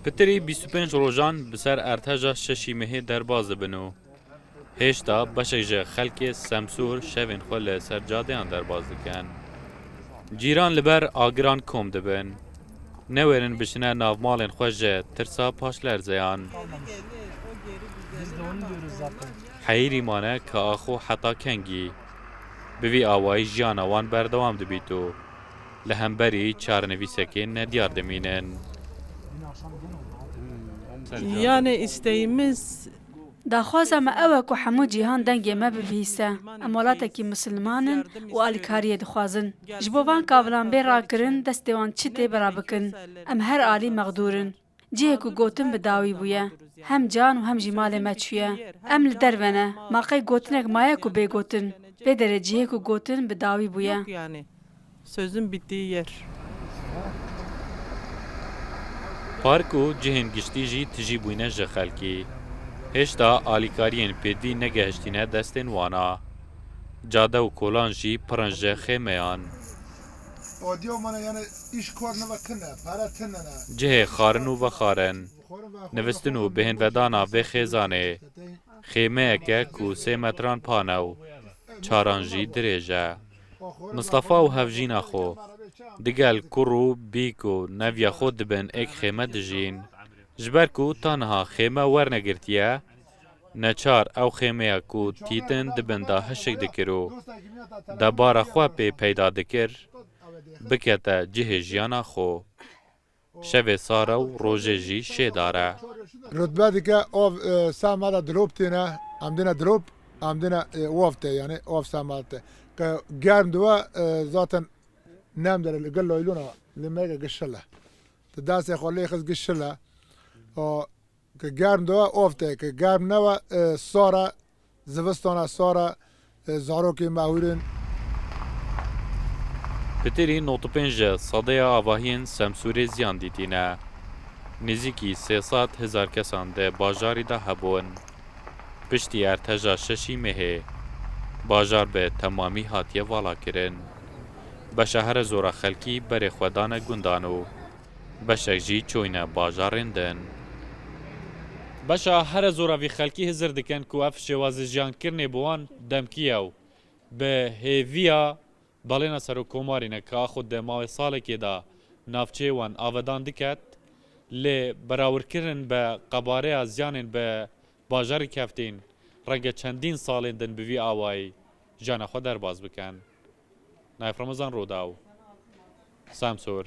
Pitirî bîst û pênc rojan bi ser Erteja şeşî Mehê derbas dibin û hêşta beşek ji xelkê Semsûr şevên xwe li ser cadeyan derbas dikin. Cîran li ber agiran kom dibin. Newêrin biçine navmalên xwe ji tirsa paşlerzeyan. Heyîrî mane ka axo heta kengî. Bi vî awayî jiyana wan berdewam dibît û. Li hemberî çarenivîsekê ne diyar dimînin. Yanê îsteyî min. Daxwaza me ew e ku hemû cîhan dengê me bibihîste. Em welatekî misilman in û alîkariyê dixwazin. Ji bo van kavilan bê rakirin destê wan çi tê bira bikin. Em her alî mexdûr in. Cihê ku gotin bi dawî bûye, hem can û hem jî malê me çûye. Em li derve ne, ma qey gotinek maye ku bê gotin. Lê derê cihê ku gotin bi dawî bûye. Yok yani. Sözün bittiği yer. Park û cihên giştî jî tijî bûyne ji xelkî. Hêşta alîkariyên pêdivî negehiştîne destên wan a. Cade û kolan jî pir in ji xêmeyan. Odiya me ne yani iş kar neve kin e, pere tine ne. Cihê xarin û vexarin, nivîstin û bêhnvedana vê xêzanê, xêmeyeke ku sê metran pane û çaran jî dirêj e. Mistefa û hevjîna xwe, digel kur û bîk û neviya xwe di bin êk xême dijîn. Ji ber ku taniha xême wernegirtiye, Neçar ew xêmeya ku Tîtin di bin de hişk dikir û debara xwe pê peyda dikir, bikete cihê jiyana xwe. Şevê sar e û rojê jî şêdar e. Rutbe dike av seh me de dilop têne, em dine dilop, em dine wav te yanî av seh me te. Ke germ dibe zaten nem dere li gel laylona li me ke gişile. Ti destê xwe lê xist gişile. Ke germ diwe ofte, ke germ newe sar e, zivistan e sar e, zarokên me hûr in. Pêtêrî nod pênc de sadeya avahiyên Semsûrê ziyan dîtîne. Nêzîkî sê sed hezar kesan di bajarî de hebûn. Piştî erteja şeşî mehê bajar bi temamî hatiye valakirin. Beşa here zora xelkî berê xwe dane gundan û Beşek jî çûyne bajarên din. Beşa here zora vî xelkî hizir dikin ku ev şêwazîjiyankirinê bi wan demkî ye û bi hêviya balêna Serokkomarî ne ka xwe di mavê salekê de navçeyê wan avedan diket lê berawirkirin bi qebareya ziyanên bi bajarî keftîn renge çendîn salên din bi vî awayî jiyana xwe derbas bikin. Naif Ramazan Rodaw, Samsûr.